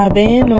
abeeno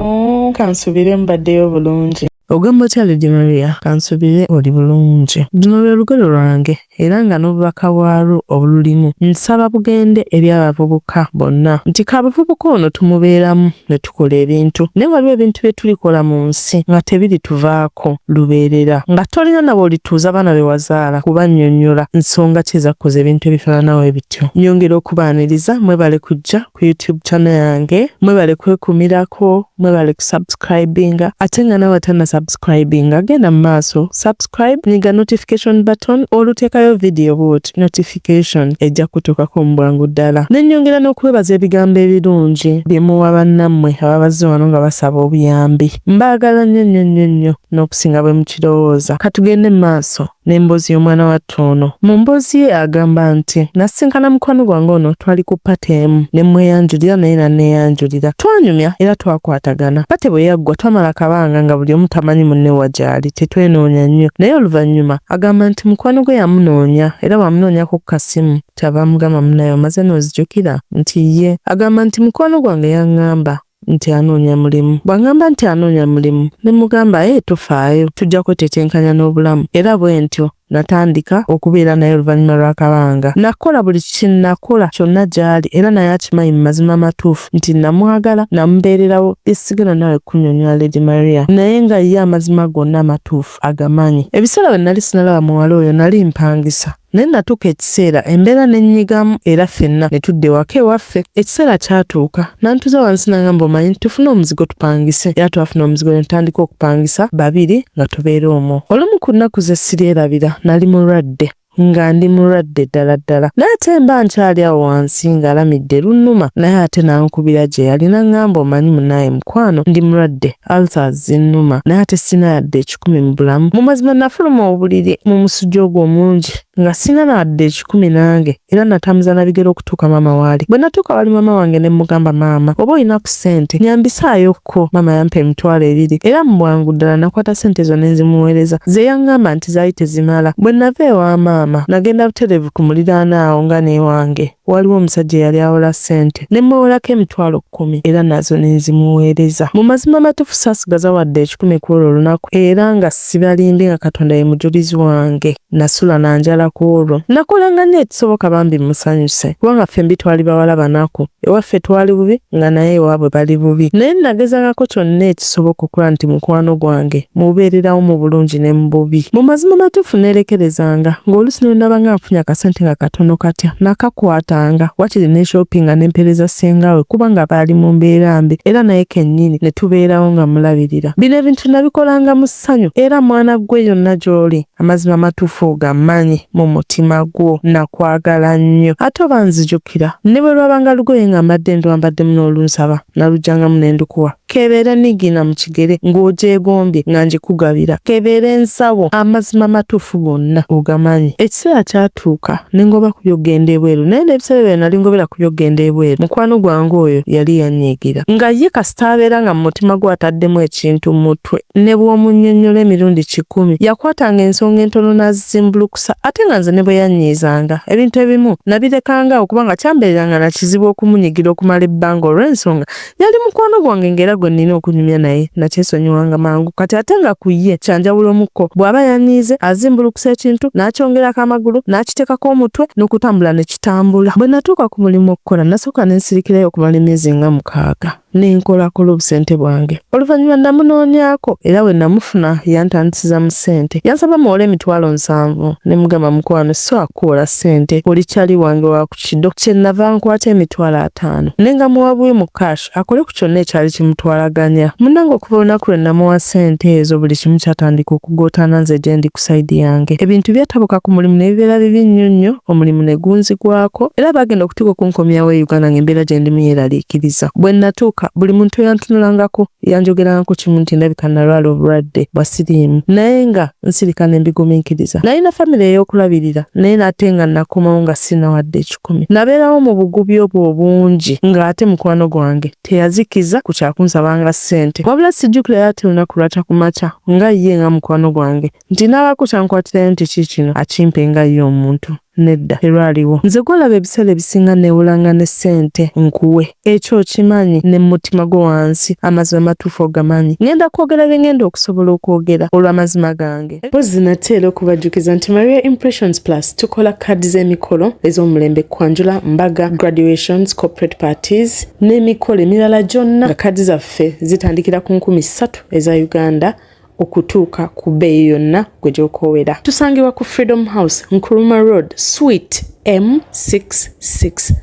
kansubire mbaddeyo bulungi ogamba otya lady maria kansubire oli bulungi luno lwe lugero lwange era nga n'obubaka bwalwo obululimu nsaba bugende eri abavubuka bonna nti kabuvubuka ono tumubeeramu ne tukola ebintu naye waliwo ebintu bye tulikola mu nsi nga tebirituvaako lubeerera nga tolina nabo olituuza abaana be wazaala kubannyonnyola nsonga ki ezakukoza ebintu ebifaananawo ebityo nyongera okubaaniriza mwebale kujja ku YouTube channel yange mwebale kwekumirako mwebale ku subscribinga ate nga nawe atana subscribinga genda mumaaso subscribe nyiga notification button olutekayo video boot notification ejja kutukako mubwangu ddala nenyongera nokwebaza ebigambo ebirungi byemuwa bannammwe ababazze wano nga basaba obuyambi mbaagala nnyo nnyo nnyo nnyo n'okusinga bwe mukirowooza katugende mu maaso N'emboozi y'omwana wattu ono. Mu mboozi ye agamba nti, Nnasisinkana mukwano gwange ono twali ku ppate emu ne mmweyanjulira naye n'anneeyanjulira. Twanyumya era twakwatagana. Ppate bwe yaggwa twamala akabanga nga buli omu tamanyi munne wa gy'ali. Tetwenoonya nnyo naye oluvannyuma agamba nti mukwano gwe yamunoonya era bw'amunoonyako ku kasimu ky'ava amugamba munnaye omaze n'ozijukira? Nti ye agamba nti mukwano gwange yang'amba. nti anoonya mulimu. Bw'aŋŋamba nti anoonya mulimu, ne mmugamba, Ee, tofaayo, tujja kwetetenkanya n'obulamu. Era bwe ntyo nnatandika okubeera naye oluvannyuma lw'akabanga. Nnakola buli kye nnakola kyonna gy'ali, era naye akimanyi mu mazima amatuufu nti nnamwagala, nnamubeererawo. Ye sigenda naawe kunnyonnyola, Lady Maria, naye nga ye amazima gonna amatuufu agamanyi. Ebiseera bwe nnali sinnalaba muwala oyo, nnali mpangisa. Naye natuuka ekiseera embeera nennyigamu era ffenna ne tudda ewaka ewaffe. Ekiseera kyatuuka n'antuza wansi n'angamba omanyi nti tufune omuzigo tupangise era twafuna omuzigo ne tutandika okupangisa babiri nga tubeera omwo. Olumu ku nnaku ze siryerabira nali mulwadde nga ndi mulwadde ddala ddala naye ate mba nkyali awo wansi ng'alamidde lunnuma naye ate n'ankubira gye yali n'angamba omanyi munaaye mukwano ndi mulwadde ulcers zinnuma naye ate sirina yadde kikumi mu bulamu. Mu mazima nnafuluma obuliri mu musujja ogwo omungi, nga sirina na wadde ekikumi nange, era nnatambuza na bigere okutuuka maama w'ali. Bwe nnatuuka awali maama wange ne mmugamba, Maama, oba olina ku ssente, nyambisaayokko. Maama yampa emitwalo ebiri, era mu bwangu ddala nnakwata ssente ezo ne nzimuweereza, ze yaŋŋamba nti zaali tezimala. Bwe nnava ewa maama, nnagenda butereevu ku muliraano awo nga n'ewange waaliwo omusajja eyali awola ssente, ne mmuweerako emitwalo. kkumi, era nazo ne nzimuweereza. Mu mazima amatuufu saasigaza wadde ekikumi ku olwo olunaku, era nga sibalimbye nga Katonda ye mujulizi wange, nasula na njala ku olwo. Nakolanga nnyo ekisoboka bambi mmusanyuse, kubanga ffembi twali bawala banaku, ewaffe twali bubi nga naye ewaabwe bali bubi. Naye nagezangako kyonna ekis. kisoboka okulaba nti mukwano gwange mmubeererawo mu bulungi ne mu bubi. Mu mazima amatuufu nneerekerezanga, ng'oluusi ne bwe nabanga nfunye akasente nga katono katya, nnakakwatanga, wakiri ne shoppinga ne mpeereza ssengaawe kubanga aba ali mu mbeera mbi era naye kennyini ne tubeerawo nga mmulabirira. Bino ebintu nnabikolanga mu ssanyu era mwana ggwe yonna gy'oli amazima amatuufu ogamanyi mu mutima gwo. Nnakwagala nnyo ate oba nzijukira ne bwe lwabanga lugoye nga mbadde ndwambaddemu n'olunsaba, nnaluggyangamu ne ndukuwa. Kebeera nigina mu kigere ng'ogyegombye nga ngikugabira. Kebeera ensawo amazima amatuufu gonna ogamanyi. Ekiseera kyatuuka ne ngoba ku by'okugenda ebweru naye n'ebisale bye nali ngobera ku by'okugenda ebweru mukwano gwange oyo yali yannyiigira. Nga ye kasita abeera nga mu mutima gwe ataddemu ekintu mu mutwe ne bw'omunnyonnyola emirundi kikumi yakwatanga ensonga entono n'azizimbulukusa ate nga nze ne bwe yannyiizanga ebintu ebimu nabirekangaawo kubanga kyambeereranga na kizibu okumunyigira okumala ebbanga olw'ensonga Yali mukwano gwange ng'era gwe nnina okunyumya naye nakyesonyiwanga mangu kati ate nga ku ye kya njawulomukko bw'aba yanyiize azimbulukusa ekintu n'akyongerako amagulu n'akiteekako omutwe n'okutambula ne kitambula. Bwe natuuka ku mulimu okukola nasooka ne nsirikirayo okumala emyezi nga mukaaga ne nkolakola obusente bwange. Oluvannyuma namunoonyako era bwe namufuna yantandisiza mu ssente. Yansaba muwole emitwalo nsanvu ne mugamba mukwano sisobola kukuwola ssente oli chali wange wa kido kye nnava nkwata emitwalo ataano ne nga muwa buwi mu cash akole ku kyonna ekyali kimutwalaganya. Munnange okuva olunaku lwe nnamuwa ssente ezo buli kimu kyatandika okugootaana nze gye ndi ku sayidi yange. Ebintu byatabuka ku mulimu ne bibeera bibi nnyo nnyo, omulimu ne gunzigwako era baagenda okutuuka okunkomyawo e Uganda ng'embeera gye ndimu yeeraliikiriza. Bwe nnatuuka buli muntu eyantunulangako yanjogerangako kimu nti ndabika nnalwala obulwadde bwa siriimu naye nga nsirika ne mbigumiikiriza. Nalina famire ey'okulabirira naye ate nga nakomawo nga sirina wadde ekikumi. Nabeerawo mu bugubi obwo obungi ng'ate mukwano gwange teyazikiza ku kya kunsabanga ssente. Wabula sijjukira y'ate lunaku lwakya ku makya nga ye nga mukwano gwange nti n'abaako ky'ankwatirayo nti kiikino akimpe nga ye omuntu. Nedda terwaliwo. Nze gwolaba ebiseera ebisinga newulanga ne ssente nkuwe. Ekyo okimanyi ne mu mutima gwo wansi amazima amatuufu ogamanyi. Ngenda kwogera bye ngenda okusobola okwogera olwa mazima gange. Mpozzi nate era okubajjukiza nti Maria Impressions Plus tukola kkaadi z'emikolo ez'omulembe kkwanjula, mbaga, graduations, corporate parties n'emikolo emirala gyonna nga kkaadi zaffe zitandikira ku nkumi ssatu eza Uganda okutuuka ku bbeeyi yonna gwe gy'okoowera. Tusangibwa ku Freedom House, Nkrumah Road, Suite M663.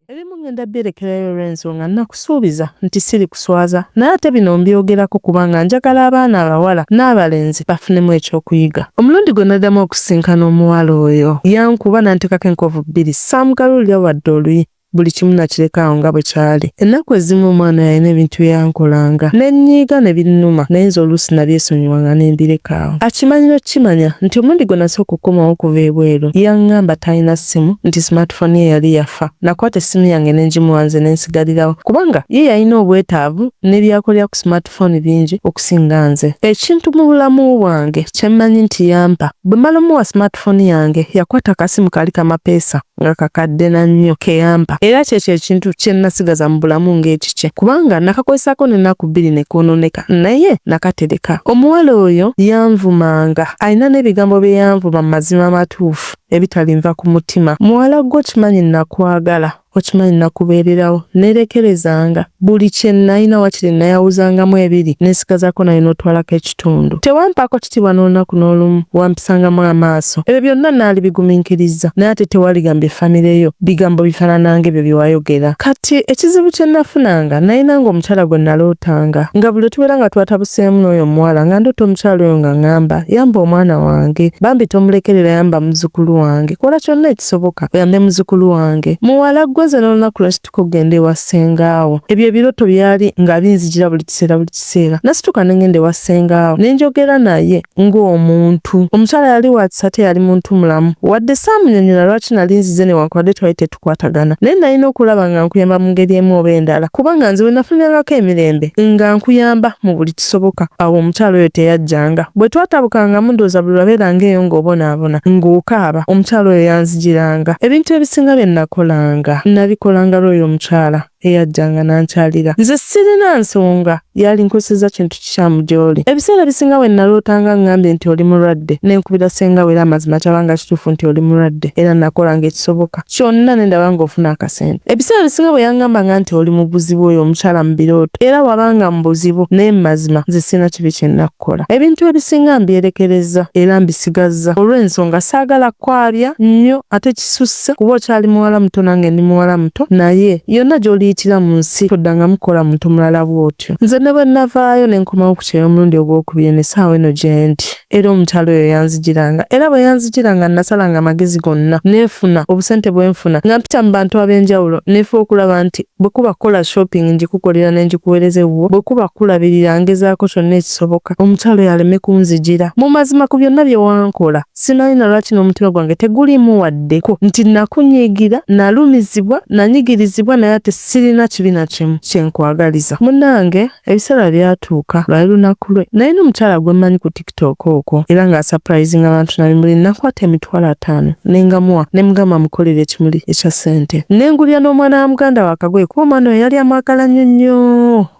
Ebimu ngenda byerekerayo olw'ensonga nakusuubiza nti sirikuswaza naye ate bino mbyogerako kubanga njagala abaana abawala n'abalenzi bafunemu eky'okuyiga. Omulundi gwe naddamu okusisinkana omuwala oyo yankuba nanteekako enkovu bbiri, saamugaluulira wadde oluyi. buli kimu nakireka awo nga bwe kyali. Ennaku ezimu omwana yalina ebintu bye yankolanga ne nnyiiga ne binnuma naye nze oluusi nabyesonyiwanga ne mbireka awo. Akimanyi n'okukimanya nti omulundi gwe nasooka okukomawo okuva ebweru yang'amba talina ssimu nti smartphone ye yali yafa. Nakwata essimu yange ne ngimuwa nze ne nsigalirawo kubanga ye yalina obwetaavu ne by'akolera ku smartphone. phone bingi okusinga nze. Ekintu mu bulamu bwange kyemmanyi nti yampa, bwemala omuwa smart phone yange yakwata akasimu kaali kamapeesa nga kakadde na nnyo keyampa era kyekyo ekintu kyenasigaza mu bulamu nga ekikye kubanga nakakozesako nenaku bbiri nekononeka naye nakatereka. Omuwala oyo yanvumanga alina nebigambo byeyanvuma mu mazima amatuufu ebitalinva ku mutima. Muwala gwe okimanyi nakwagala. Okimanyi nnakubeererawo, nneerekerezanga buli kye nnalina, wakiri nnayawuzangamu ebiri ne nsigazaako naye n'otwalako ekitundu. Tewampaako kitiibwa n'olunaku n'olumu, wampisangamu amaaso. Ebyo byonna nnaali biguminkirizza, naye ate tewaligambye famire yo bigambo bifaanana ng'ebyo bye wayogera. Kati, ekizibu kye nnafunanga, nnalinanga omukyala gwe nnalootanga, nga buli lwe tubeera nga twatabuseemu n'oyo omuwala, nga ndoota omukyala oyo ng'aŋŋamba, Yamba omwana wange. Bambi tomulekerera, yamba muzzukulu wange. Kola kyonna kisoboka oyambe muzukulu wange muwala gwe ze n'olunaku lwensituka okugenda ewa ssengaawo ebyo ebiroto byali nga binzijira buli kiseera buli kiseera nasituka ne ngenda ewa ssengaawo ne njogera naye ng'omuntu omukyala yali wakisa ate yali muntu mulamu wadde saamunyonyola lwaki nali nzize newankubadde twali tetukwatagana naye nalina okulaba nga nkuyamba mu ngeri emu oba endala kubanga nze we nafunirangako emirembe nga nkuyamba mu buli ekisoboka, awo omukyala oyo teyajjanga. Bwe twatabukangamu, ndowooza buli wabeeranga eyo ng'obonaabona, ng'okaaba, omukyala oyo yanzijiranga. Ebintu ebisinga bye nnakolanga, nnabikolanga lw'oyo omukyala eyajjanga n'ankyalira. Nze ssirina nsonga yalinkozesezza kintu kikyamu gy'oli. Ebiseera ebisinga bwe nnaloota nga ŋŋambye nti oli mulwadde, ne nkubira ssengawo era amazima kyabanga kituufu nti oli mulwadde, era nnakolanga ekisoboka. kyonna ne ndaba ng'ofuna akasente ebiseera bisinga bwe yangambanga nti oli mu buzibu oyo omukyala mu birooto era wabanga mu buzibu naye mu mazima nze sirina kibi kyenna kukola ebintu ebisinga mbyerekereza era mbisigazza olw'ensonga saagala kwabya nnyo ate kisusse kuba okyali muwala muto nange ndi muwala muto naye yonna gy'oliyitira mu nsi toddanga mukola muntu mulala bw'otyo nze ne bwe navaayo ne nkomawo ku kyeyo omulundi ogw'okubiri n'essaawa eno gye ndi era omukyalo oyo yanzijiranga era bwe yanzijiranga nasalanga amagezi gonna neefuna obusente bwe nfuna nga mpita mu bantu ab'enjawulo neefuba okulaba nti bwe kuba kukola shopping ngikukolera ne ngikuweereza ewuwo bwe kuba kulabirira ngezaako kyonna ekisoboka omukyalo oyo aleme kunzijira mu mazima ku byonna bye wankola sinali na lwaki n'omutima gwange teguliimu waddeko nti nakunyiigira nalumizibwa nanyigirizibwa naye ate sirina kibi na kimu kye nkwagaliza munnange Ebiseera byatuuka lwali lunaku lwe nalina omukyala gwe mmanyi ku tiktok okwo era ng'asapulayizinga abantu na bimuli nnakwata emitwalo ataano ne ngamuwa ne mugamba amukolere ekimuli ekya ssente ne ngulira n'omwana wa muganda we akagoye kuba omwana oyo yali amwagala nnyo nnyo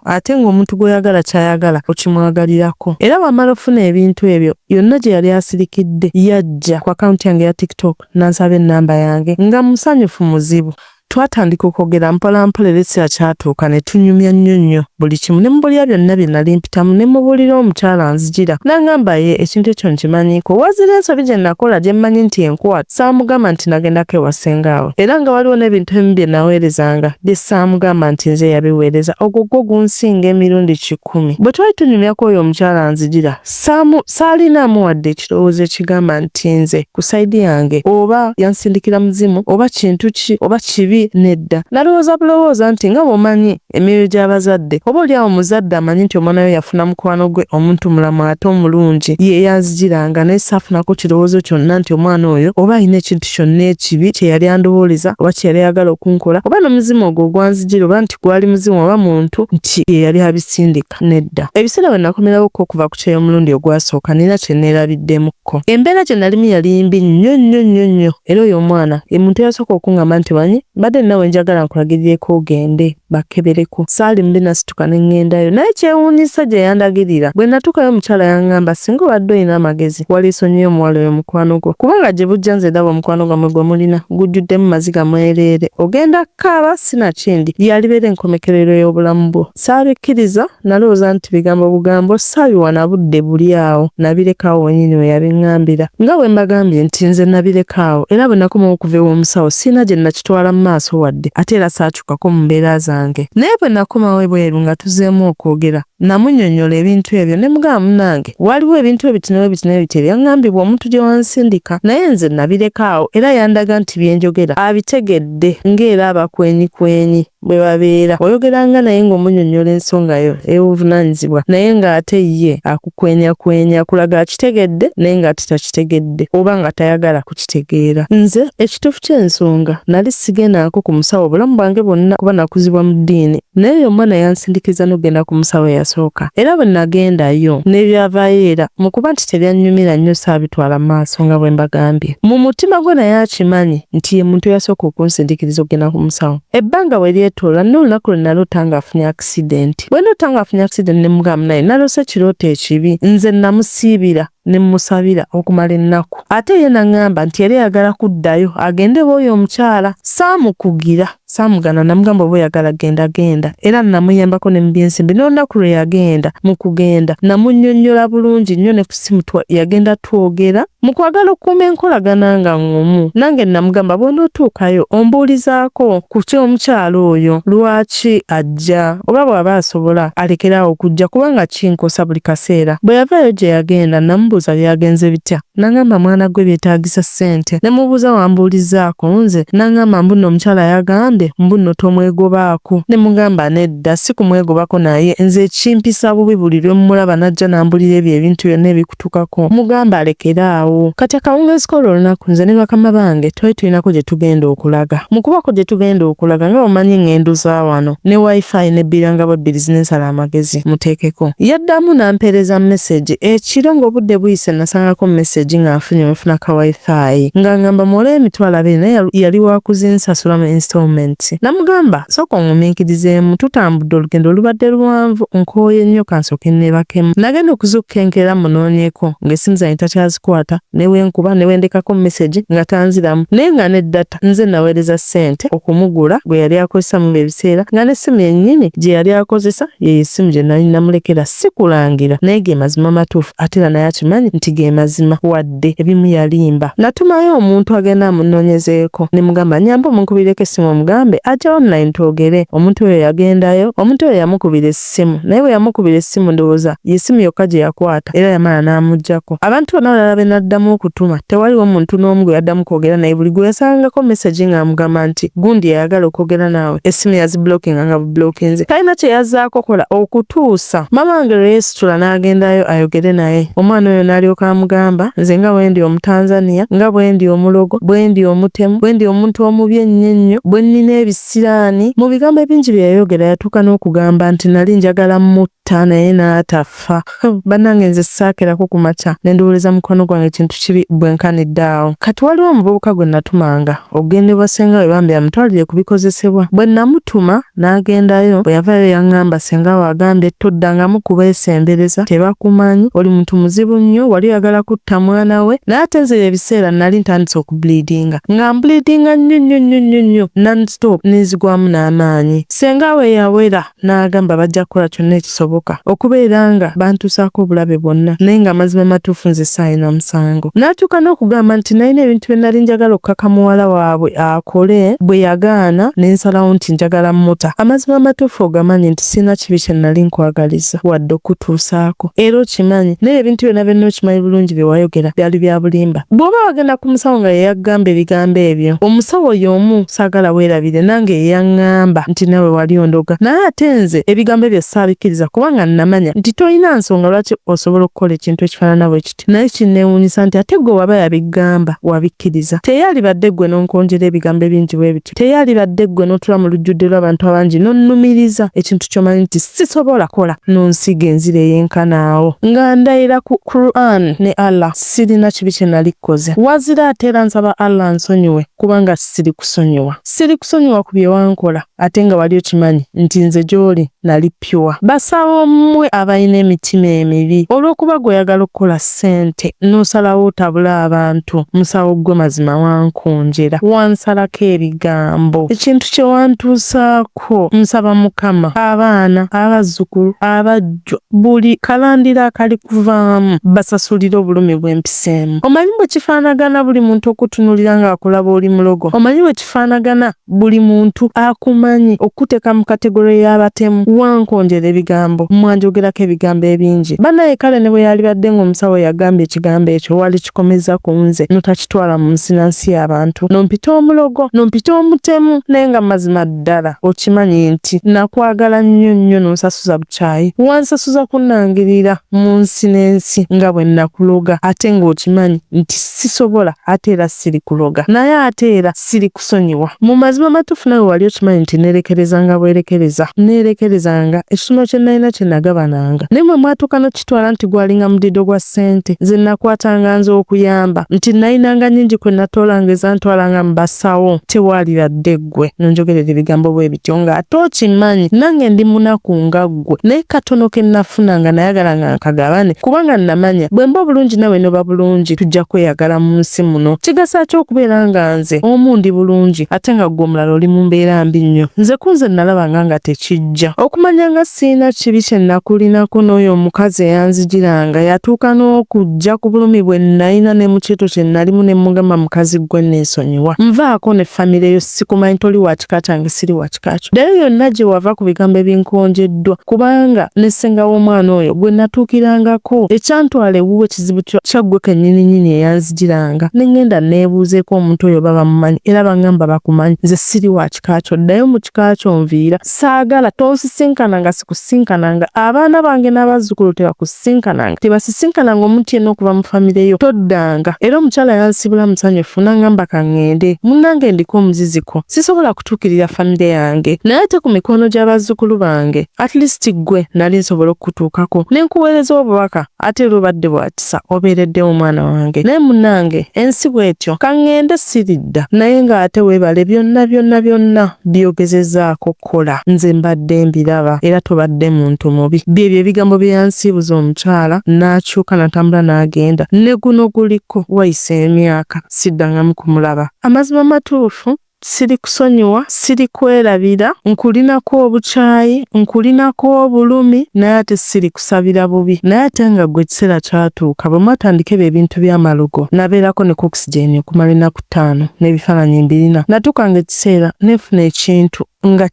ate ng'omuntu gw'oyagala ky'ayagala okimwagalirako era bw'amala ofuna ebintu ebyo yonna gye yali asirikidde yajja ku akawunti yange eya tiktok n'ansaba ennamba yange nga musanyufu muzibu Twatandika okwogera mpolampola era essira kyatuuka ne tunyumya nnyo nnyo buli kimu ne mubulya byonna bye nali mpitamu ne mubuulira omukyala anzijira n'angamba ye ekintu ekyo nkimanyiiko wazira ensobi gye nakola gye mmanyi nti enkwata saamugamba nti nagendako ewa ssengaawe era nga waliwo n'ebintu ebimu bye naweerezanga bye saamugamba nti nze yabiweereza ogwo gwo gunsinga emirundi kikumi. Bwe twali tunyumya kw'oyo omukyala anzijira saamu saalinaamu wadde ekirowoozo ekigamba nti nze ku sayidi yange oba yansindikira muzimu oba kintu ki oba kibi nedda nalowooza bulowooza nti nga bwomanyi emyoyo gy'abazadde oba oli awo muzadde amanyi nti omwana we yafuna mukwano gwe omuntu mulamu ate omulungi ye yanzijiranga naye saafunako kirowoozo kyonna nti omwana oyo oba alina ekintu kyonna ekibi kye yali andowooleza oba kye yali ayagala okunkola oba n'omuzimu ogwo ogwanzijira oba nti gwali muzimu oba muntu nti ye yali abisindika Africa? Nedda. Ebiseera we nakomerawo ko okuva ku kyeyo omulundi ogwasooka nina kye neerabiddemuko. Embeera gye nalimu yali mbi nnyo nnyo nnyo nnyo era oyo omwana ye muntu eyasooka okungamba nti wanyi mbadde nawe njagala nkulagirireeko ogende bakkebereko. Saali mubi nasituka ne ŋŋendayo naye kyewuunyisa gye yandagirira. Bwe natuukayo omukyala yangamba singa obadde olina amagezi wali osonyiye omuwala oyo mukwano gwo kubanga gye bujja nze ndaba omukwano gwammwe gwe mulina gujjuddemu maziga mwereere. Ogenda kukaaba sinakindi y'alibeera enkomekerero y'obulamu bwo. Saabikkiriza, nalowooza nti bigambo bugambo, saabiwa na budde buli awo, nabireka awo wennyini we yabiŋŋambira. Nga bwe mbagambye nti, nze nabireka awo, era bwe nakomawo okuva ew'omusawo, ssirina gye nnakitwala mu maaso wadde, ate era saakyukako mu mbeera zange. Naye bwe nakomawo ebweru nga tuzzeemu okwogera, nnamunnyonnyola ebintu ebyo, ne mugamba, Munnange, waaliwo ebintu ebiti ne bwe biti ne bwe biti ebyaŋŋambibwa omuntu gye wansindika, naye nze nabireka awo, era yandaga nti bye njogera abitegedde, nga era abakwenyikwenyi. bwe babeera. Oyogeranga naye ng'omunyonnyola ensonga yo ey'obuvunaanyizibwa naye ng'ate ye akukwenyakwenya akulaga akitegedde naye ng'ate takitegedde oba nga tayagala kukitegeera. Nze ekituufu ky'ensonga nali sigendangako ku musawo obulamu bwange bwonna kuba nakuzibwa mu ddiini naye oyo omwana yansindikiza n'okugenda ku musawo eyasooka era bwe nagendayo n'ebyavaayo era mu kuba nti tebyannyumira nnyo saabitwala mu maaso nga bwe mbagambye mu mutima gwe naye akimanyi nti ye muntu eyasooka okunsindikiriza okugenda ku musawo. Ebbanga bwe lyetoola, nina olunaku lwe naloota ng'afunye akisidenti. Bwe ndoota ng'afunye akisidenti ne mugamba naye naloose ekirooto ekibi, nze nnamusiibira ne mmusabira okumala ennaku. Ate ye n'ang'amba nti yali ayagala kuddayo agende ew'oyo omukyala. Saamukugira. Saamugana namugamba oba oyagala genda genda era namuyambako ne mu by'ensimbi n'olunaku lwe yagenda mu kugenda namunnyonnyola bulungi nnyo ne ku ssimu yagenda twogera mu kwagala okukuuma enkolagana nga ngumu nange namugamba bw'onootuukayo ombuulizaako ku ky'omukyala oyo lwaki ajja oba bw'aba asobola alekere awo okujja kubanga kinkosa buli kaseera. Bwe yavaayo gye yagenda namubuuza byagenze bitya. Nangamba mwana gwe byetagisa sente nemubuza wambulizaako nze nangamba mbu no omukyala yagambye mbu no tomwegobaako nemugamba nedda sikumwegobako naye nze kimpisa bubi buli lwemumulaba najja nambulira ebyo ebintu byonna ebikutukako mugamba alekere awo kati akawungezi kolwo olunaku nze nebakama bange twali tulinako gyetugenda okulaga mukubako gyetugenda okulaga nga bwemanyi engendo zawano ne wifi ne bilangabo ebbiri zinensala amagezi muteekeko. Yaddamu n'ampeereza message ekiro ng'obudde buyise nasangako message ng'anfunye bwe nfuna ka Wi-Fi ng'angamba muwalayo emitwalo abiri naye yali wa kuzinsasula mu installment. Namugamba sooka ongumiikirizeemu tutambudde olugendo lubadde luwanvu nkooye nnyo kansooke nneebakemu. Nagenda okuzuukuka enkeera munoonyeko ng'essimu zange takyazikwata ne bwe nkuba ne bwe ndekako message nga tanziramu naye nga ne data Uganda. Nze naweereza ssente okumugula gwe yali akozesa mu bye biseera nga n'essimu yennyini gye yali akozesa ye y'essimu gye nali namulekera si kulangira naye ge mazima amatuufu ate era naye akimanyi nti ge mazima wadde ebimu yalimba. Natumayo omuntu agenda amunoonyezeeko ne mugamba nnyambe omunkubireko essimu omugambe ajje online twogere. Omuntu oyo yagendayo, omuntu oyo yamukubira essimu. ssimu naye bwe yamukubira essimu ndowooza ye ssimu yokka gye yakwata era yamala n'amuggyako. Abantu bonna abalala be naddamu okutuma tewaliwo muntu n'omu gwe yaddamu kwogera naye buli gwe yasangangako mesegi ng'amugamba nti gundi yayagala okwogera naawe essimu yazibulokinga nga bubulokinze. Talina kye yazzaako kukola okutuusa maama wange lwe yeesitula n'agendayo ayogere naye. Omwana oyo n'alyoka amugamba nze nga bwe ndi Omutanzania, nga bwe ndi omulogo, bwe ndi omutemu, bwe ndi omuntu omubi ennyo ennyo, bwe nnina ebisago, Siraani mu bigambo ebingi bye yayogera yatuuka n'okugamba nti nali njagala mutta naye n'ataffa. Bannange nze saakerako ku makya ne nduwuliza mukwano gwange kintu kibi bwe nkanidde awo. Kati waliwo omuvubuka gwe natumanga okugenda ewa ssenga we bambi amutwalire ku bikozesebwa. Bwe namutuma n'agendayo bwe yavaayo yang'amba ssenga wo agambye toddangamu kubeesembereza tebakumanyi, oli muntu muzibu nnyo, wali oyagala kutta mwana we naye ate nze bye biseera nali ntandise oku. okubleedinga nga mbleedinga nnyo nnyo nnyo nnyo nnyo non-stop nenzigwamu n'amaanyi ssenga we yawera n'agamba bajja kukola kyonna ekisoboka okubeera nga bantuusaako obulabe bwonna naye nga amazima matuufu nze saalina musango n'atuuka n'okugamba nti nalina ebintu bye nali njagala okukaka muwala waabwe akole bwe yagaana ne nsalawo nti njagala mmuta amazima amatuufu ogamanyi nti sirina kibi kye nali nkwagaliza wadde okukutuusaako era okimanyi naye ebintu byonna byonna okimanyi bulungi bye wayogera byali bya bulimba Bw'oba wagenda ku musawo nga yeyakugamba ebigambo ebyo, omusawo y'omu saagala weerabire nange yeyaŋŋamba nti nawe wali ondoga naye ate nze ebigambo ebyo saabikkiriza kubanga nnamanya nti tolina nsonga lwaki osobola okukola ekintu ekifaanana bwe kiti naye kinneewuunyisa nti ate gwe waba yabigamba wabikkiriza. Teyalibadde ggwe n'onkonjera ebigambo ebingi bwe bityo. Nabbi. Teyalibadde ggwe n'otuula mu lujjudde lw'abantu abangi n'onnumiriza ekintu ky'omanyi nti sisobola kola n'onsiiga enzira eyenkana awo nga ndayira ku Qur'an ne Allah sirina kibi kye nali kkoze. Wazira ate era nsaba Allah ansonyiwe kubanga sirikusonyiwa. Sirikusonyiwa ku bye wankola ate nga wali okimanyi nti nze gy'oli nali pure. Basawo mmwe abalina emitima emibi olwokuba gwe oyagala okukola sente nosalawo otabule abantu musawo ggwe mazima wankonjera wansalako ebigambo ekintu kyewantuusaako nsaba mukama abaana abazzukulu abajjwa buli kalandira akali kuvaamu basasulire obulumi bwempiseemu omanyi bwekifaanagana buli muntu okutunulira ng'akulaba oli mulogo omanyi bwekifaanagana Buli muntu akumanyi okukuteka mu category ya batemu wankonjera ebigambo mwanjogerako ebigambo ebingi banaye kale nebweyalibadde nga omusawo yagambye ekigambo ekyo walikikomezza kunze notakitwala mu nsi na nsi ya bantu nompita omulogo nompita omutemu naye nga mazima ddala okimanyi nti nakwagala nnyo nnyo nonsasuza bukyayi wansasuza kunangirira mu nsi ne nsi nga bwe nakuloga ate nga okimanyi nti sisobola ate era sirikuloga naye ate era siri okukusonyiwa. Mu mazima amatuufu nawe wali okimanyi nti nerekerezanga bwerekereza, nerekerezanga ekisomo kye nalina kye nagabananga, naye mwe mwatuuka n'okukitwala nti gwalinga mudido gwa ssente ze nakwatanga nze okuyamba, nti nalinanga nnyingi kwe natoolanga ezantwalanga mu basawo, tewaalira dde ggwe n'onjogerera ebigambo bwe bityo ng'ate okimanyi nange ndi munaku nga ggwe. gwe naye katono ke nafuna nga nayagala nga nkagabane kubanga namanya bwe mba bulungi nawe noba bulungi tujja kweyagala mu nsi muno kigasa ki okubeera nga nze omu ndi bulungi ate nga gwe omulala oli mu mbeera mbi nnyo nze kunze nalabanga nga tekijja okumanya nga siina kibi kye nakulinako n'oyo omukazi eyanzijiranga yatuuka n'okujja ku bulumi bwe nalina ne mu kyeto kye nalimu ne mugamba mukazi gwe neesonyiwa nvaako ne famire yo sikumanyi toli wa kika kyange siri wa just catch ddayo yonna gye wava ku bigambo ebinkonjeddwa kubanga ne ssenga w'omwana oyo gwe natuukirangako ekyantwala ewuwe kizibu kyaggwe kennyininyini eyanzijiranga ne ngenda neebuuzeeko omuntu oyo baba mumanyi era bangamba bakumanyi nze siri wa kika kyo ddayo mu kika kyo nviira saagala tonsisinkana nga sikusinkana nga abaana bange n'abazzukulu tebakusi Tebakusisinkananga. Tebasisinkananga omuntu yenna okuva mu famire yo. Toddanga. Era omukyala yansiibula musanyufu n'angamba ka ŋŋende. Munnange ndiko omuziziko. Sisobola kutuukirira famire yange. Naye ate ku mikwano gya bazzukulu bange, at least ggwe nnali nsobola okukutuukako ne nkuweereza obubaka. Ate era obadde wa kisa, obeereddewo mwana wange. Naye munnange, ensi bw'etyo. Ka ŋŋende, siridda. Naye nga ate weebale byonna byonna byonna by'ogezezzaako. okukola. Nze mbadde mbiraba era tobadde muntu mubi. Byebyo ebigambo bye yansiibuza omukyala n'akyuka natambula n'agenda. Ne guno guliko wayise emyaka siddangamu kumulaba. Amazima amatuufu sirikusonyiwa, sirikwerabira, nkulinako obukyayi, nkulinako obulumi naye ate sirikusonyiwa. kusabira bubi naye ate nga gwe ekiseera kyatuuka bwe mwatandika ebyo ebintu by'amalogo nabeerako ne kuxigeni okumala ennaku ttaano n'ebifaananyi mbirina natuuka nga ekiseera nefuna ekintu nga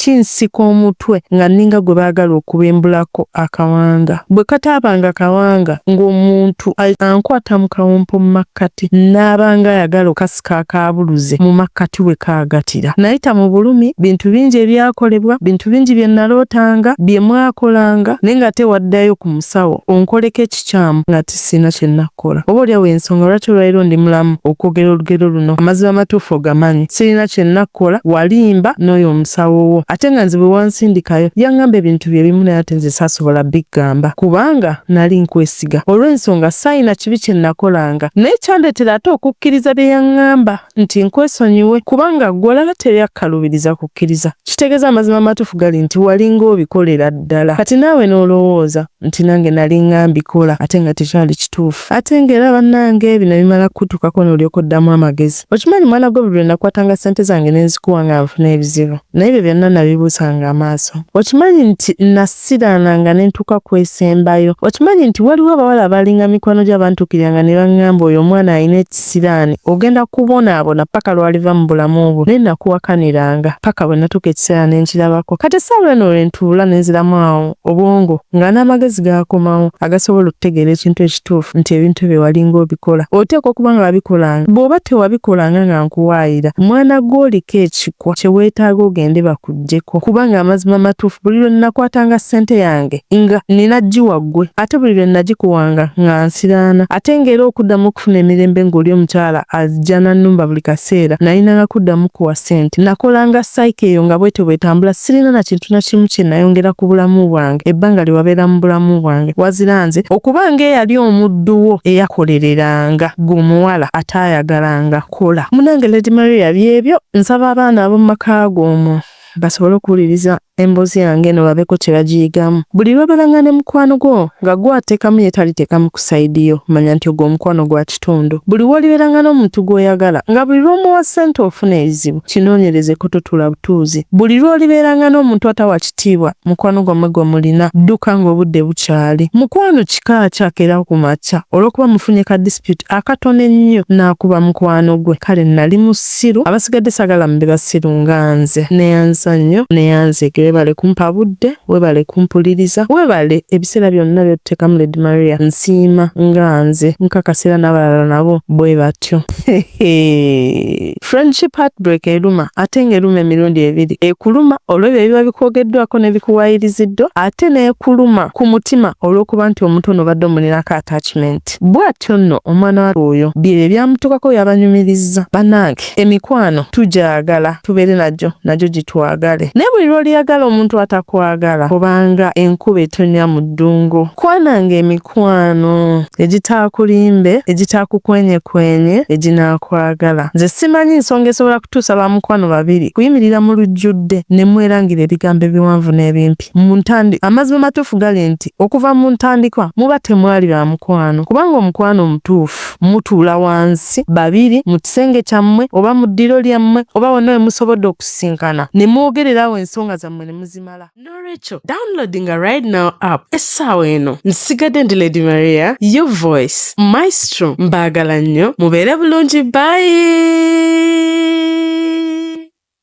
kinsika omutwe nga nninga gwe baagala okubembulako akawanga bwe kataabanga kawanga ng'omuntu ankwata mu kawompo mu makkati naabanga ayagala okasi just ka kaabuluze mu makkati we kaagatira. Nayita mu bulumi, bintu bingi ebyakolebwa, bintu bingi bye nalootanga, bye mwakolanga, naye ng'ate waddayo ku musawo onkoleko ekikyamu ng'ate sirina kye nnakukola. Oba olyawo y'ensonga lwaki olwaliro ndi mulamu, okwogera olugero luno. Amazima amatuufu ogamanyi. Sirina kye nnakukola, walimba n'oyo omusawo wo. Ate nga nze bwe wansindikayo, yangamba ebintu bye bimu naye ate nze saasobola biggamba kubanga nali nkwesiga. okusiga olw'ensonga saalina kibi kye nakolanga naye kyandeetera ate okukkiriza bye yaŋŋamba nti nkwesonyiwe kubanga ggwe olaba teri akkalubiriza kukkiriza kitegeeza amazima amatuufu gali nti walinga obikolera ddala kati naawe n'olowooza nti nange nalinga mbikola ate nga tekyali kituufu ate ng'era bannange bino bimala kukutuukako n'olyoka oddamu amagezi okimanyi mwana gwe buli lwe nakwatanga ssente zange ne nzikuwa nga nfuna ebizibu naye ebyo byonna nabibuusanga amaaso okimanyi nti siraananga ne ntuuka ku esembayo. Okimanyi nti waliwo abawala abaalinga mikwano gyo abantuukiranga ne bang'amba oyo omwana alina ekisiraani, ogenda kubonaabona ppaka lw'aliva mu bulamu bwo, naye nakuwakaniranga ppaka bwe natuuka ekiseera ne nkirabako. Kati essaawa eno lwe ntuula ne nziramu awo obwongo nga n'amagezi gaakomawo agasobola okutegeera ekintu ekituufu nti ebintu ebyo walinga obikola. Oteekwa okuba nga wabikolanga. Bw'oba tewabikolanga nga nkuwaayira, mwana ggwe oliko ekikwa kye weetaaga ogende bakuggyewo. bajjeko kubanga amazima matuufu buli lwe nnakwatanga ssente yange nga nina giwa ggwe ate buli lwe nagikuwanga nga nsiraana ate ng'era okuddamu okufuna emirembe ng'oli omukyala ajja n'annumba buli kaseera nalinanga kuddamu kuwa ssente. Nakolanga sayika eyo nga bwetyo bwetambula sirina na kintu na kimu kye nayongera ku bulamu bwange ebbanga lye wabeera mu bulamu bwange wazira nze okuba ng'eyali omuddu wo eyakolereranga gwe omuwala ataayagalanga okukula. Munange Lady Maria byebyo nsaba abaana ab'omu maka goomu basobole okuwuliriza emboozi yange eno babeeko kye bagiyigamu. Buli lw'obeeranga ne mukwano gwo nga gwe ateekamu ye taliteekamu ku sayidi yo manya nti ogwo omukwano gwa kitundu. Buli w'olibeeranga n'omuntu gw'oyagala nga buli lw'omuwa ssente ofuna ebizibu kinoonyerezeko totuula butuuzi. Buli lw'olibeeranga n'omuntu atawa kitiibwa mukwano gwammwe gwe mulina dduka ng'obudde bukyali. Mukwano kika ki akeera ku makya olw'okuba mufunye ka Kit akatono ennyo n'akuba mukwano gwe. Kale nnali musiru, abasigadde sagala mube basiru nga nze. Neyanza nnyo, neyanza egi. Webale kumpa budde, webale kumpuliriza, webale ebiseera byonna by'otuteekamu Lady Maria. Nsiima nga nze nkakasa era n'abalala nabo bwe batyo. Hehe. Friendship heartbreak eruma ate ng'eruma emirundi ebiri. Ekuluma olw'ebyo ebiba bikwogeddwako n'ebikuwaayiriziddwa ate n'ekuluma ku mutima olw'okuba nti omuntu ono obadde omulinako attachment. Bwatyo nno omwanawe oyo bye ebyamutukako yabanyumirizza. Banange emikwano tugyagala tubeere nagyo nagyo gitwagale naye buli lwoliyagala omuntu atakwagala obanga enkuba etonya mu ddungu. Kwanange emikwano egitaakulimbe, egitaakukwenyekwenye, eginaakwagala. Nze simanyi nsonga esobola kutuusa ba mukwano babiri kuyimirira mu lujjudde ne mwerangira ebigambo ebiwanvu n'ebimpi. Mu ntandi, amazima matuufu gali nti okuva mu ntandikwa muba temwali ba mukwano kubanga omukwano omutuufu mutuula wansi babiri mu kisenge kyammwe oba mu ddiiro lyammwe oba wonna we musobodde okusisinkana ne mwogerera awo ensonga zammwe ne muzimala. N'olwekyo downloadinga Ride Now app essaawa eno. Nsigadde ndi Lady Maria, your voice, Maestro mbaagala nnyo mubeere bulungi bye.